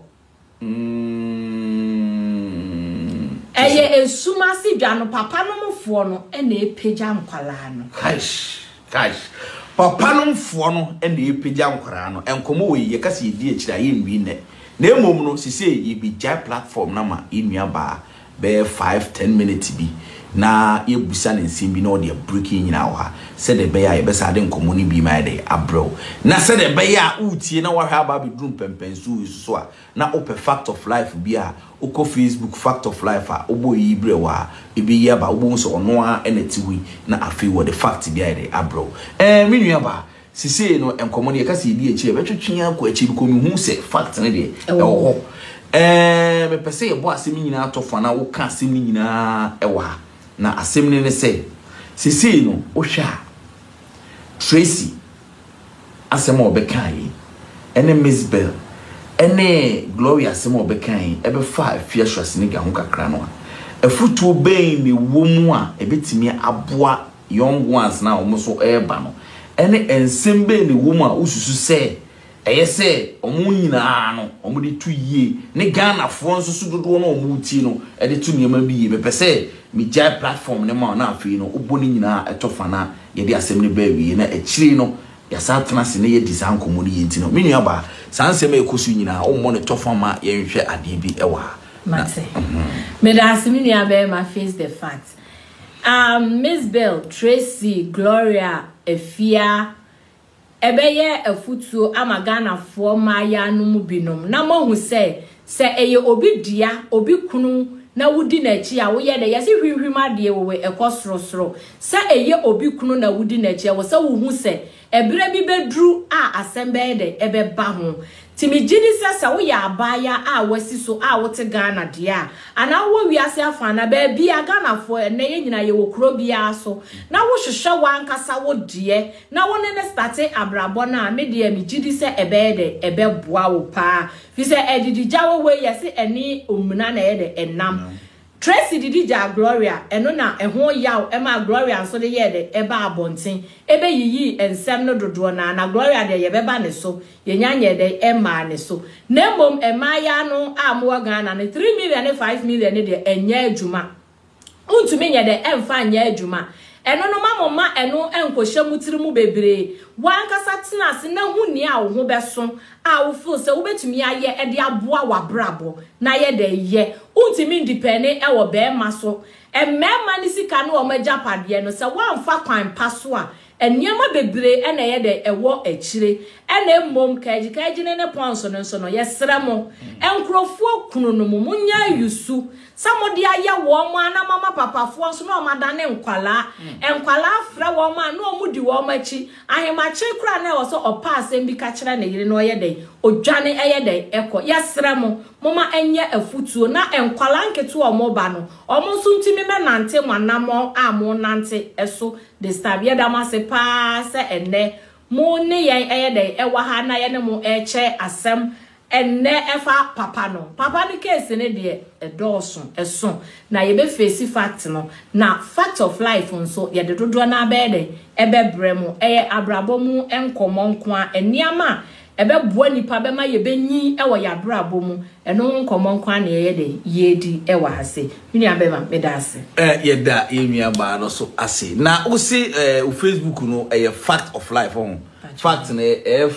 ɛyɛ mm. esum ase dwa no papa no mu foɔ no ɛna epagya nkwadaa no. kaish kaish papa no mfoɔ no ɛna epagya nkwadaa no nkɔmɔ wɔ yi yɛka sɛ yɛdi akyire a yɛnwi nnɛ na emom no sise yɛbɛgya platform no ma yɛnua baa bɛyɛ five, ten minutes bi na yɛabisa no nsɛm bi na ɔde abreak yɛn nyinaa wɔ ha sɛdeɛ ɛbɛyɛ a yɛbɛsan de nkɔmmɔ no biem ayɛ dɛ abrɛ wo. Na sɛdeɛ ɛbɛyɛ a woretie na woahwɛ aba abɛduru mpɛnpɛnsoɔ yi so so a, na wopɛ Fact of Life bi a, wokɔ Facebook Fact of Life a, wobɔ Eyi Brɛ Wo a, ɛbɛyi aba. Wobɛhu sɛ ɔno ara na ɛte hɔ yi na afei wɔde fact bi ayɛ dɛ abrɛ wo. Ɛɛ me nuabaa! Sisei no nkɔmɔ no yɛka sɛ yɛdi akyire a ɛbɛtwetwe yɛn akɔ akyire because mehu sɛ fact no deɛ ɛwɔ hɔ. Ɛɛɛ mepɛ sɛ yɛbɔ asɛm no nyinaa to fa na woka asɛm no nyinaa wɔ ha. Na asɛm no ne sɛ, sisei no wohwɛ a Tracy asɛm a ɔbɛkaa yi ɛne Miss Bell ɛne Gloria asɛm a ɔbɛkaa yi ɛbɛfa Afia Schwarzenegger ho kakra no a, afutuo bɛn na ɛwɔ mu a ɛbɛtumi aboa young ones no a wɔn nso reba no, ɛne nsɛm bɛn na ɛwɔ mu a wosusu sɛ ɛyɛ sɛ wɔn nyinaa no wɔde to yie, ne Ghanafoɔ nso so dodoɔ no a wɔretie no de to nneɛma bi yie? Mepɛ sɛ megyae platform no ma wo na afei no wobɔ ne nyinaa ɛtɔ fa na yɛde asɛm no ba awie na akyire no yɛasan atena ase na yɛadi saa nkɔmmɔ no yie nti no, me nuabaa, saa nsɛm a ɛkɔ so yi nyinaa wommɔ no tɔ fa ma yɛnhwɛ adeɛ bi wɔ ha. Mate. Meda ase me nuabarima face the fact. Um, Mizbel, Tracy, Gloria, Afia, ɛbɛyɛ afutuo ama Ghanafoɔ mmaayaa no mu binom na moahu sɛ, sɛ ɛyɛ obi dea, obi kunu na wodi n'akyi a, woyɛ dɛ, yɛse hwimhwim adeɛ wowɛ, ɛkɔ sorosoro. Sɛ ɛyɛ obi kunu na wodi n'akyi a, ɛwɔ sɛ wohu sɛ, Ɛberɛ bi bɛduru a asɛm bɛyɛ dɛ ɛbɛba ho. Nti megye di sɛ sɛ woyɛ abaayaa a woasi so a wote Ghana deɛ a, anaa wowɔ wiase afa anaa baabiara, Ghanafoɔ ɛnnɛ yɛn nyinaa yɛwɔ kuro biara so, na wohwehwɛ w'ankasa wo deɛ na wo ne no starte abrabɔ no a, me deɛ megye di sɛ ɛbɛyɛ dɛ ɛbɛboa wo pa ara. Firi sɛ adididyawo wei yɛse ɛne omina na ɛyɛ dɛ ɛnam. Tracy didi gyaa Gloria, ɛno na ɛho yaw maa Gloria nso de yɛɛ dɛ ɛbaa abɔnten, ɛbɛyiyii nsɛm no dodoɔ no ara, na Gloria deɛ yɛbɛba ne so, yɛnya nyɛɛ dɛ ɛmmaa ne so. Na mmom mmaayaa no a mowɔ Ghana no, three million ne five million no deɛ ɛnyɛ adwuma, wontumi nyɛ dɛ ɛmfa nyɛ adwuma, ɛno no ma mo mma ɛno nkɔhyɛ mo tiri mu bebree, wo ankasa tena ase na hu nea wo ho bɛso a wo feel sɛ wo bɛtumi ayɛ de aboa w'abrabɔ no ayɛ dɛ yɛ, wo ntumi ndipɛne wɔ bɛɛma so, mmɛɛma ne sika ne wɔn agyapadeɛ no sɛ woanfa kwan pa so a nneɛma bebree na ɛyɛ dɛ ɛwɔ akyire na mmom kaagyi kaagyi ne ne pɔns no nso no yɛsrɛ mo nkorɔfoɔ kunu no mo mo nyɛ ayusu sɛ mo de ayɛ wɔn mo a na mama papafoɔ nso na wɔn adane nkwalaa nkwalaa frɛ wɔn a na wɔn di wɔn akyi Ahemakye koraa na ɛwɔ sɛ ɔpɛ asɛm bi ka kyerɛ ne yere na ɔyɛ dɛn? Odwane ɛyɛ dɛn? Ɛkɔ. Yɛsrɛ mo, momma ɛnyɛ afutuo na nkwadaa nketewa a wɔba no, wɔn nso ntumi mɛnante mo anammɔn a morenante so this time. Yɛda mo ase pa ara sɛ ɛnnɛ mo ne yɛn ɛyɛ dɛn? Ɛwɔ ha na yɛne mo rekyɛ asɛm Ɛnnɛ ɛfa papa no, papa no case no deɛ ɛdɔɔso, ɛso, na yɛbɛ face fact no, na fact of life nso yɛde dodoɔ no ara bɛyɛ dɛn? ɛbɛbrɛ mo. Ɛyɛ abrabɔ mu nkɔmmɔ nko ara, nneɛma a ɛbɛboa nipa bɛma yɛbɛnyin wɔ yɛn abrabɔ mu, ɛno ho nkɔmmɔ nko ara na yɛyɛ dɛn? yɛredi wɔ ha sei. Me nua bɛma, meda ase. Yɛda yɛn nua baa no so ase. Na wo se wo facebook no ɛyɛ fact of life, ho fact no ɛyɛ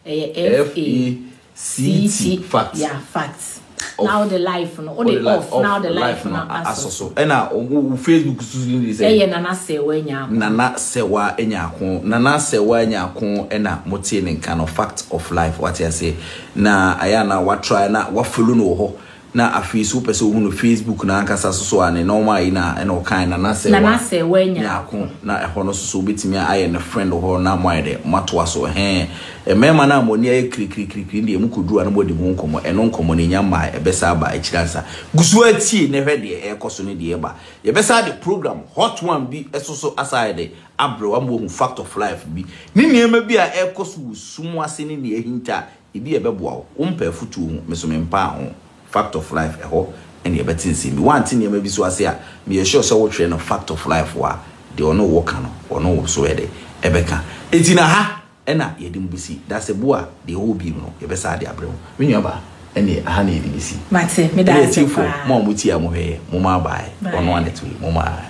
Ɛyɛ FACT facts. Yeah facts. Na wo de life no, wo de off na wo de life no asɔ so. Ɛna wo Facebook so din de sɛ. Ɛyɛ Nana Sewaa Nyaako. Nana Sewaa Nyaako. Nana Sewaa Nyaako ɛna mo tee ne nka no, fact of life, wate aseɛ. Na ayɛ a na wa try na wa follow no wɔ hɔ. Na afei so wopɛ sɛ wohu no Facebook no ankasa so so a, ne nɔma ayi na ɛna ɔkae na na sɛ wa nya ako na ɛhɔ no so so wobɛtumi a ayɛ no friend wɔ hɔ na mo ayɛ dɛ mo atoa so ɛhɛɛ mmarima no a mo ani ayɛ kirikirikirikiri no deɛ mo kɔduru a na mo adi ho nkɔmmɔ ɛno nkɔmmɔ no ɛnya mmae ɛbɛsa aba akyiri ansa gu so ara tie na hwɛ deɛ ɛrekɔ so ne deɛ ɛreba yɛbɛsa de program hot one bi so so asa ayɛ dɛ abrɛ wo ama wahu fact of life bi ne nneɛma bi a ɛrekɔ so wɔ sum ase ne nea ahinta a Ebi a ɛbɛboa wo. Wompɛ afotuo ho, me so mempaa ho. Fact of Life, Ɛhɔ na yɛbɛte nsɛm bi. Woante nneɛma bi so ase a, meyɛ sure sɛ wotwerɛ no Fact of Life hɔ a, deɛ ɔne wo ka no, ɔno wo nso bɛyɛ dɛn? Ɛbɛka. Enti na ha na yɛde mu bɛsi. Dasebo a deɛ ɛwɔ hɔ bio no, yɛbɛsan ade abrɛ wo. Me nuabaa, ɛnneɛ ha na yɛde bɛsi. Mate, meda ase paa. Ɛnneɛ atiefoɔ, mo a motie a mohwɛeɛ, momma abae. Ɔno Annette wei, momma abae.